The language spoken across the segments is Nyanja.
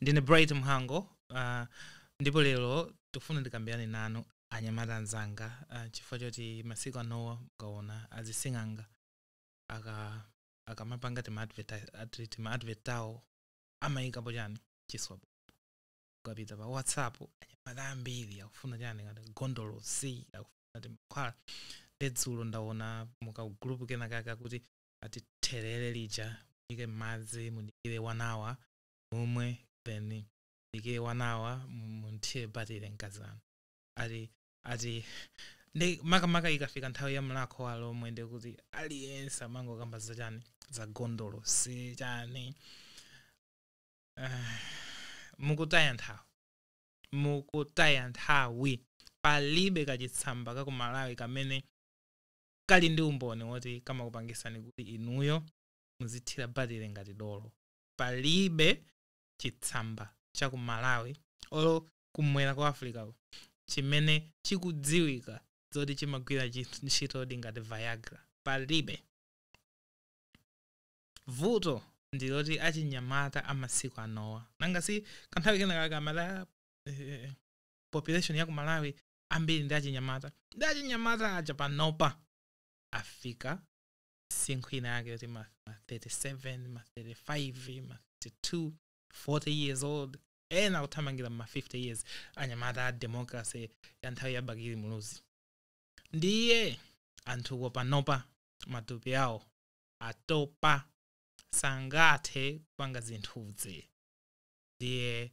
ndine bright mhango uh, ndipo lero tikufuna ndikambirane nanu anyamata anzanga uh, chifukwa choti masiku anowa mukaona azising'anga akamapanga timaadvert tawo amayikapo chani chiswa p ukapita pa whatsapp anyamata ambiri akufuna chani kati gondolosi akufuna timankhwala nde dzulo ndaona mukagulupu kenakake kuti ati therere lija muyike m'madzi mudikire one hour mumwe then mudikire one hour mu- mumuthire batire mkazi wanu ati ati nde makamaka ikafika nthawi ya mlakho wa alomwe ndi kuti aliyense amangokamba za chani za gondolosi chani Ah, mukutaya nthawi mukutaya nthawi palibe kachitsamba ka ku malawi kamene kali ndi umboni woti kamakupangisani kuti inuyo muzithira batire ngati dolo palibe chitsamba cha ku malawi olo kumwera kwa africa kuno chimene chikudziwika zoti chimagwira chi- ntchitodi ngati viagra palibe vuto ndi loti achinyamata amasiku anowa nanga si kanthawi kena kake amati "Ah, eh, population ya ku malawi ambiri ndi achinyamata nde achinyamata aja panopa afika msinkhu ina yake kuti ma ma 37 ma 35 ma 32 40 years old ena akuthamangira ma 50 years anyamata a democracy ya nthawi ya bakili muluzi ndiye anthuwo panopa matupi awo atopa sangathe kupanga zinthuzi ndiye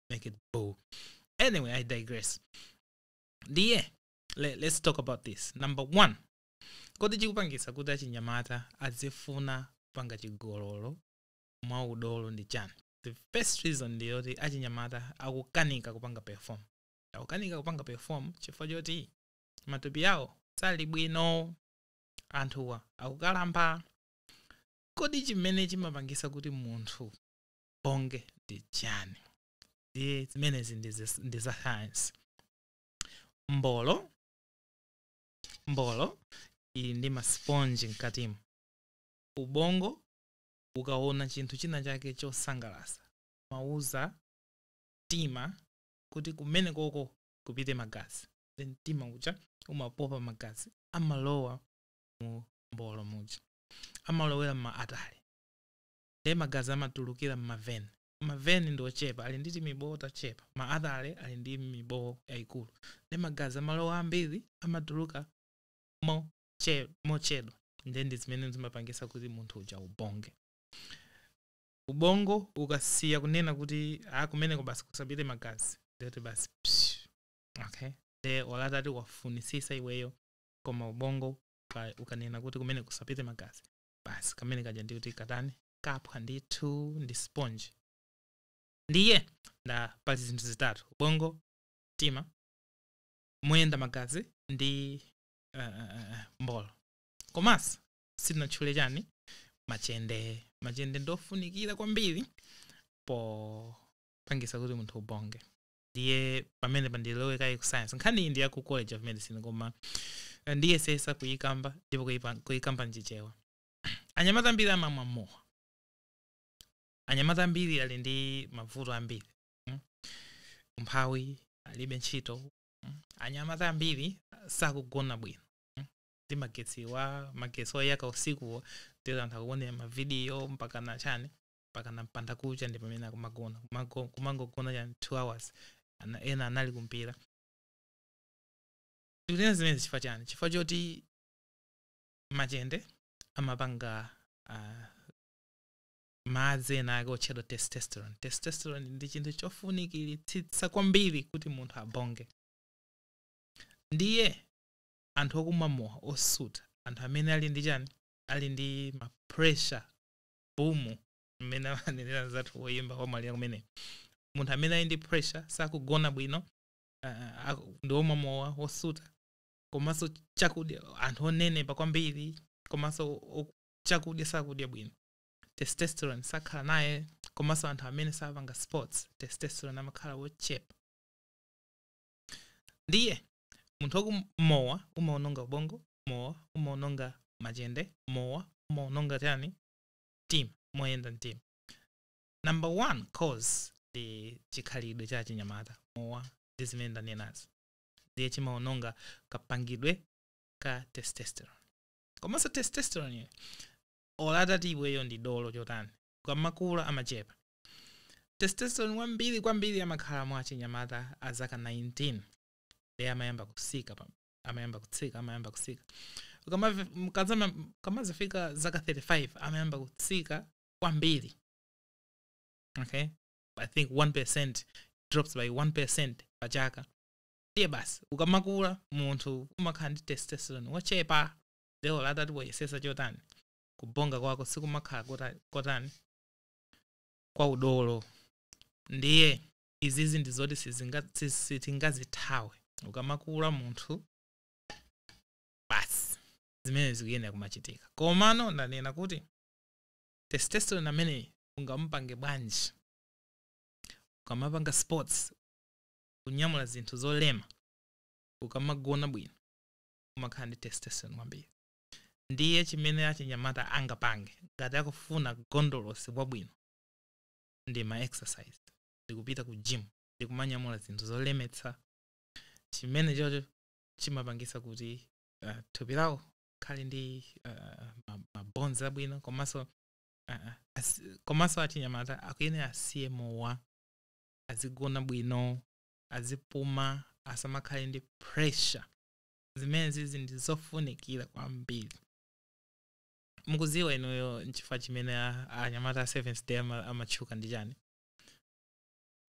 make it boo. Anyway, I digress. Ndiye, let, let's talk about this. Number one, kodi chikupangisa kuti achinyamata azifuna kupanga chigololo mwa udolo ndi chani? The first reason ndi yoti achinyamata akukanika kupanga perform. Akukanika kupanga perform chifukwa choti matupi awo sali bwino anthuwa akukalamba kodi chimene chimapangisa kuti munthu atote ndi chiyani ndiye zimenezi ndi zis- ndi za science mbolo mbolo ili ndi masiponji mkatimo ubongo ukaona chinthu china chake chosangalasa umauza mtima kuti kumene koko kupite magazi then mtima uja umapopa magazi amalowa mu mbolo muja amalowera m'ma artery nde magazi amatulukira mma ven ma ven ndi ochepa ali ndi timibowo tachepa ma artery ali ndi mibowo yayikulu nde magazi amalowa ambiri amatuluka moche- mochedwa nde ndi zimene zimapangisa kuti munthu uja ubonge ubongo ukasiya kunena kuti a kumeneko basi kusapite magazi ndeti basi psh, okay nde ola atati wafunisisa iweyo koma ubongo uka- ukanena kuti kumeneko kusapite magazi basi kamene kaja ndikuti katani kaphwa ndithu ndi sponge ndiye ndati pali zinthu zitatu ubongo mtima moyenda magazi ndi uh, uh, uh, mbolo komanso sitinatchule chani machende machende ndofunikira kwambiri popangisa kuti munthu ubonge ndiye pamene ndilowe kaye ku science nkhani iyi ndi ya ku college of medicine koma eh, ndiyesesa kuyikamba ndipo kuyipa- kuyikamba mchichewa anyamata ambiri amamwa mowa anyamata ambiri ali ndi mavuto ambiri mm. umphawi alibe ntchito mm. anyamata ambiri sakugona bwino mm. ndi magetsiwa magetsi oyaka usikuwa ndiye amatha kuonera mavidiyo mpaka na chani mpakana mbanda kucha ndi pamene akumagona Kumago- kumangogona cha 2 hours Ana- ena anali kumpira tikunena zimenezi chifukwa chani chifukwa choti machende amapanga ah, madzi ena ake otchedwa testosterone testosterone ndi chinthu chofunikiritsitsa kwambiri kuti munthu abonge ndiye anthu okumwa mowa osuta anthu amene ali ndi chani ali ndi ma pressure bumu mmene amanenera anzathu woyimba wamwalira kumeneyo munthu amene ali ndi pressure sakugona bwino uh, aku- ndi omwa mowa wosuta komanso chakudya anthu onenepa kwambiri komanso o- chakudya sakudya bwino testosterone sakhala naye komanso anthu amene sapanga sports testosterone amakhala wochepa ndiye munthu wa kumowa umaononga ubongo mowa umaononga machende mowa umaononga chani mtima moyenda mtima number one cause ndi chikhalidwe cha achinyamata mowa ndi zimene ndanenazi ndiye chimaononga kapangidwe ka testosterone komanso testosteroneyo ola atati iweyo ndi dolo chotani ukamakula amachepa testosterone wambiri kwambiri amakhala mwa achinyamata a zaka 19 ndiye amayamba kutsika pa amayamba kutsika amayamba kutsika Ukamavi- mkazama- mkamazifika zaka 35 amayamba kutsika kwambiri okay i think 1 drops by 1 percent pa chaka ndiye basi ukamakula munthu umakhala ndi testosterone wochepa nde olo utati uyesese chotani kubonga kwako sikumakhala kota- kotani kwa udolo ndiye izizi ndi zoti sizinga- si- sitingazithawe ukamakula munthu basi zimene zikuyenera kumachitika komano ndanena kuti testosterone amene ungamupange bwanji ukamapanga sports kunyamula zinthu zolema ukamagona bwino umakhala ndi testosterone wambiri ndiye chimene achinyamata angapange ngati akufuna gondolosi wabwino ndi ma exercise ndikupita ku gym ndikumanyamula zinthu zolemetsa chimene chocho chimapangisa kuti uh, thupi lawo likhale ndi uh, ma bones abwino komanso uh, as, komanso achinyamata akuyenera asiye mowa azigona bwino azipuma asamakhale ndi pressure zimene zizi ndi zofunikira kwambiri mukuziwa inuyo nchifukwa chimene a- anyamata a seventh day ama- amatchuka ndi chani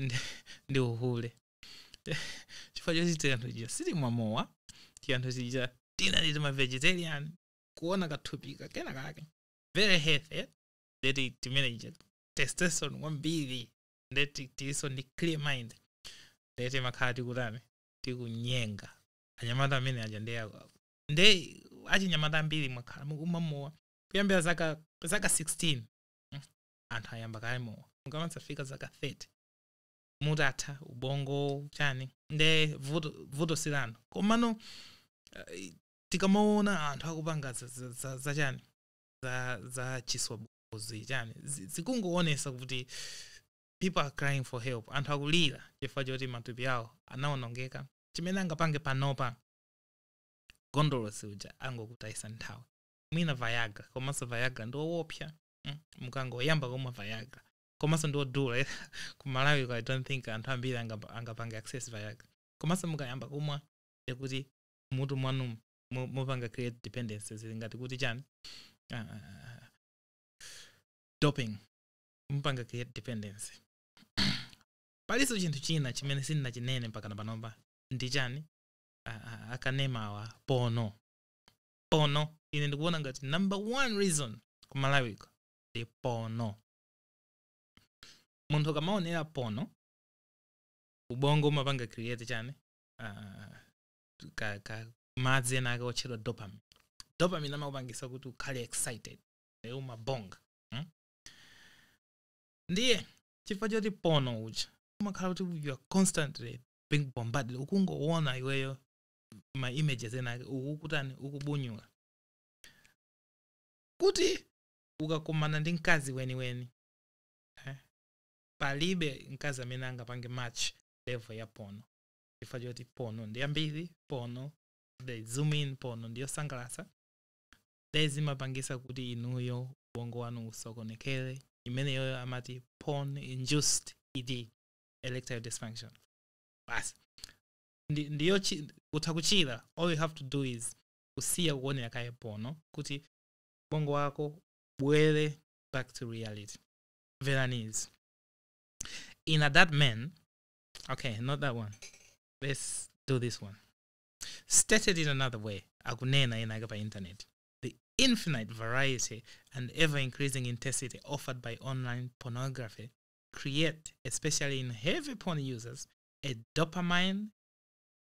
Ndi- ndi uhule chifukwa choti tianthu chija sitimwa mowa tianthu chija tinali tima vegetarian kuona kathupika kena kake very healthy nde timene chija testosterone kwambiri nde tiliso ndi clear mind nde timakhala tikutani tikunyenga anyamata amene aja ndi nde achinyamata ambiri mwakhala mukumwa mowa kuyambira zaka zaka 16 Mm. anthu ayamba kale mowa mukamazafika zaka 30 mutatha ubongo chani nde vuto, vuto sila anthu komano eh, tikamaona anthu akupanga za- za- za- za chani za, za chiswabuzi chani zi- zikungoonesa kuti people are crying for help anthu akulira chifukwa choti matupi awo anaonongeka chimene angapange panopa gondolosi uja angokutayisani nthawi mwina viagra komanso viagra ndi owopsa mm, mukangoyamba kumwa viagra komanso ndi odula ku malawi i don't think anthu ambiri angapa- angapange access viagra komanso mukayamba kumwa ndikuti mutu mwanu mu- mupanga create dependence zili ngati kuti chani Ah, ah, ah, ah. doping mupanga create dependence palinso chinthu china chimene sininachinene mpakana panopa ndi chani a- a- akanemawa pono pono ine ndikuona ngati number one reason ku Malawi kuno ndi pono munthu ukamaonera pono ubongo umapanga create chani uh, ka, ka madzi enaake otchedwa dopamine dopamine amakupangisa kuti ukhale excited nde umabonga hmm? ndiye chifukwa choti pono uja umakhala kuti you are constantly being bombarded ukungoona iweyo ma images enake ukukutani ukubunyula kuti ukakumana ndi mkazi weniweni eh, palibe mkazi amene angapange match level ya pono chifukwa choti pono ndi yambiri pono they zoom in pono ndiyosangalatsa nde zimapangisa kuti inuyo ubongo wanu usokonekere imeneyoyo amati porn induced ed erectile dysfunction basi ndi, ndiyo chi, utha kuchira all you have to do is kusiya kuonera kaye pono kuti ubongo wako ubwere back to reality mverani izi in a that man okay not that one let's do this one stated in another way akunena ena ake pa internet the infinite variety and ever increasing intensity offered by online pornography create, especially in heavy porn users, a dopamine,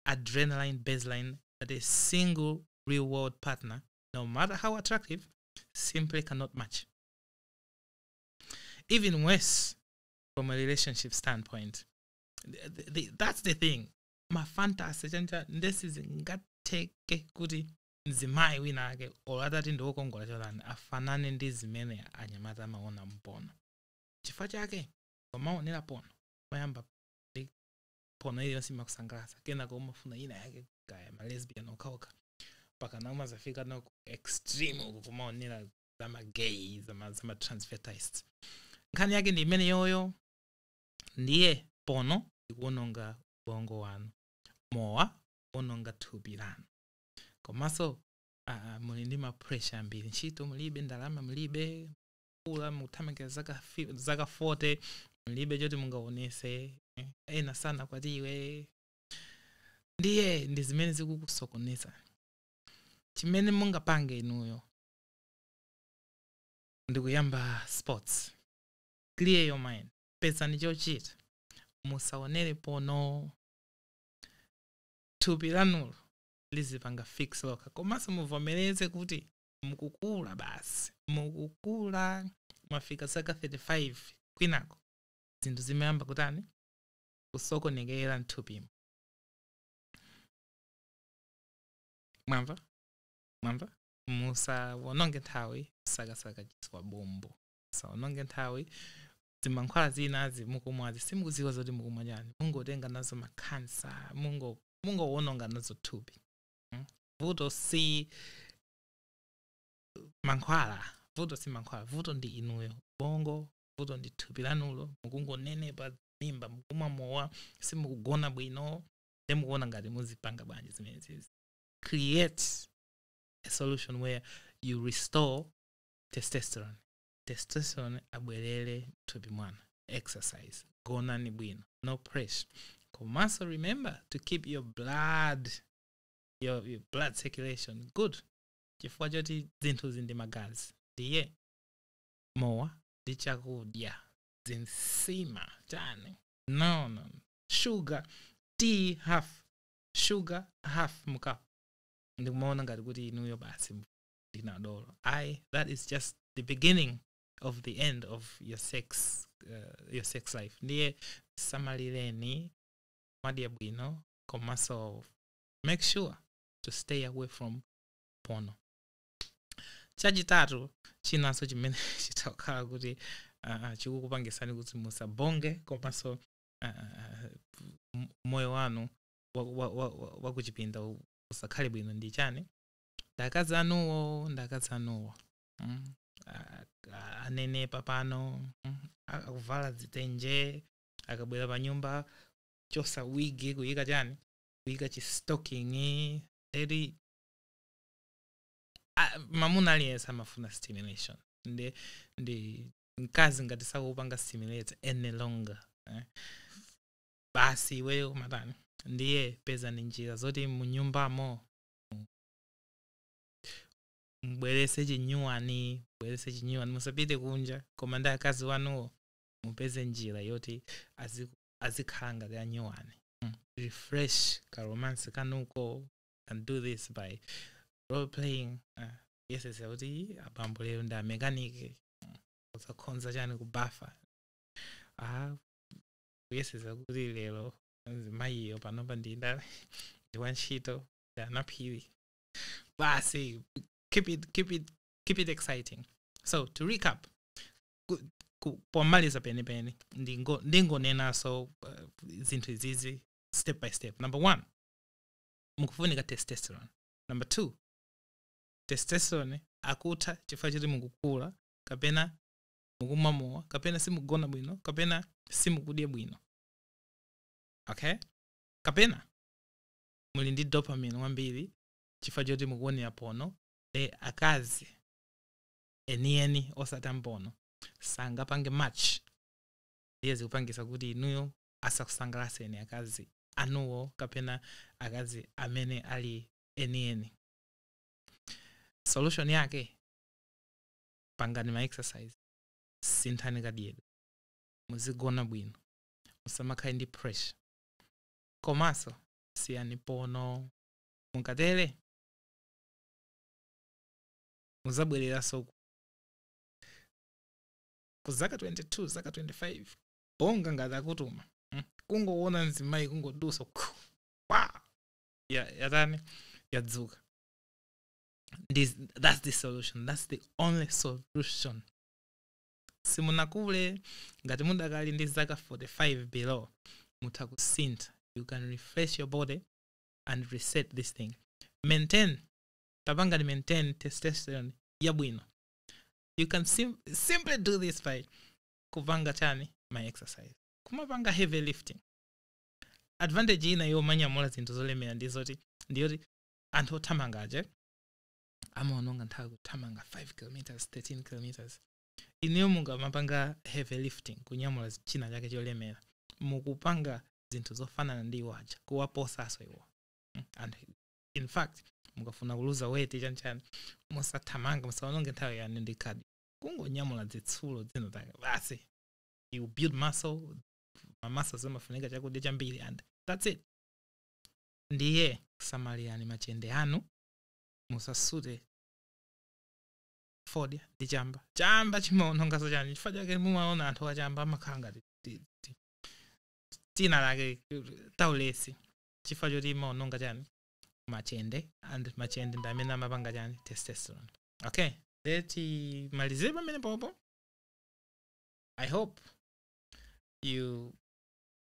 adrenaline baseline that a single real world partner, no matter how attractive, simply cannot match. Even worse, from a relationship standpoint, the, the, that's the thing. Mafantasy chani chani ndi sizingatheke kuti mzimayi wina ake olo atati ndiwokongola chotani afanane ndi zimene anyamata amaona mpono chifukwa chake ukamawonera pono umayamba ndi pono iliyonse imakusangalatsa kenako umafuna ina yake kaya malesbian okhaokha pakana umazafika nku extreme uku kumaonera zamagay zamatransvestites nkhani yake ndi imene yoyo ndiye pono ikuononga ubongo wanu mowa ukuononga thupi lanu komanso ah, muli ndi mapressure ambiri ntchito mulibe ndalama mulibe mukula mukuthamangira zaka fi- zaka 40 mlibe choti mungaonese eh, ena sanakwatiwe ndiye ndi zimene zikukusokoneza chimene mungapange inuyo ndikuyamba sports clear your mind pezani chochita musaonere pono thupi lanulo lizipanga fix lokha komanso muvomereze kuti mukukula basi mukukula mwafika zaka 35 kwinako zinthu zimayamba kutani kusokonekera mthupimo mwamva mwamva musawononge nthawi kusakasaka chiswa bombo musawononge nthawi zimankhwala zinazi mukumwazi simukuziwa zoti mukumwa chani mungotenga nazo makhansa mungo- mungowononga nazo thupi mm. vuto si mankhwala vuto si mankhwala vuto ndi inuyo ubongo vuto ndi thupi lanulo mukungonenepa mimba mukumwa mowa simukugona bwino nde mukuona ngati muzipanga bwanji zimenezi create a solution where you restore testosterone testosterone abwerere mthupi mwanu exercise gonani bwino no pressure komanso remember to keep your blood your blood circulation good chifukwa choti zinthuzi ndi magazi ndiye mowa ndi chakudya zinsima chani no no sugar tea half sugar half mukapu ndikumaona ngati kuti inuyo basi ndinadolo ayi that is just the beginning of the end of your sex uh, your sex life ndiye samalireni madya bwino komanso make sure to stay away from porno chachitatu chinanso chimene chizakhala kuti uh, chikukupangisani kuti musabonge komanso uh, m- moyo wanu wakuchipinda wa, wa, wa wakuchipinda usakhale bwino ndi chani ndakadzi anuwo ndakadzi anuwo mm, a- a- anenepa pano mm, akuvala dzitenje akabwera pa nyumba chosa wig kuyika chani kuyika chistocking eri a- mamuna aliyense amafuna stimulation ndi ndi mkazi ngati sakupanga stimulate any longer eh. basi iweyo kumatani ndiye pezani njira zoti munyumbamo mbwerese chinyuwani mbwerese chinyuwani musapite kunja koma ndi akazi wanuwo mupeze njira yoti azikhala ngati anyuwani mm. refresh ka romance kanuko can do this by role playing uh, kuyeseza kuti abambo lero ndi amekanike mm. uzakonza chani kubafa ah, kuyeseza kuti lero mayiyo panopa ndi ndani ndi wantchito ndi anaphiri basi keep it, keep it, keep it exciting so to recap ku- ku- pomaliza penipeni ndingo- ndingonenaso uh, zinthu izizi step by step number one mukufunika testosterone number two testosterone akutha chifukwa choti mukukula kapena mukumwa mowa kapena simugona bwino kapena simukudya bwino okay kapena muli ndi dopamine wambiri chifukwa choti mukuonera porno eh akazi enieni osati a mu porno sangapange match iye zikupangisa kuti inuyo asakusangalaseni akazi anuwo kapena akazi amene ali enieni solution yake pangani ma exercise sinthani kadyedwe muzigona bwino musamakhale ndi pressure komanso siyani porno mukatero mudzabwereranso ku- ku zaka 22 zaka 25 bonga ngati akutuma mm, kungoona mzimayi kungodusa khu, wa ya- yatani yadzuka This, that's the solution that's the only solution simunakule ngati mudakali ndi zaka 45 below mutha kusintha you can refresh your body and reset this thing maintain tapangani maintain testosterone yabwino you can sim simply do this by kupanga chani ma exercise kumapanga heavy lifting advantage ina yomanyamula zinthu zolemera ndi zoti ndiyoti anthu othamanga aje amaononga nthawi kuthamanga 5 km 13 km ineyo mukamapanga heavy lifting kunyamula zi- china chake cholemera mukupanga zinthu zofanana ndi iwo aja kuwaposaso iwo Mm, and in fact mukafuna kuluza weight chanchani musathamange musaononge nthawi yanu ndi cardio kungonyamula zitsulo dzina lake basi you build muscle ma muscle zimafunika chakudya chambiri and that's it ndiye samalirani machende anu musasute fodya ndi chamba chamba chimaonongaso chani chifukwa chake mumaona anthu achamba amakhala ngati ti- ti- dzina lake taulesi chifukwa choti imaononga chani machende and machende ndi amene amapanga chani testosterone okay nde timalizire pamenepo i hope you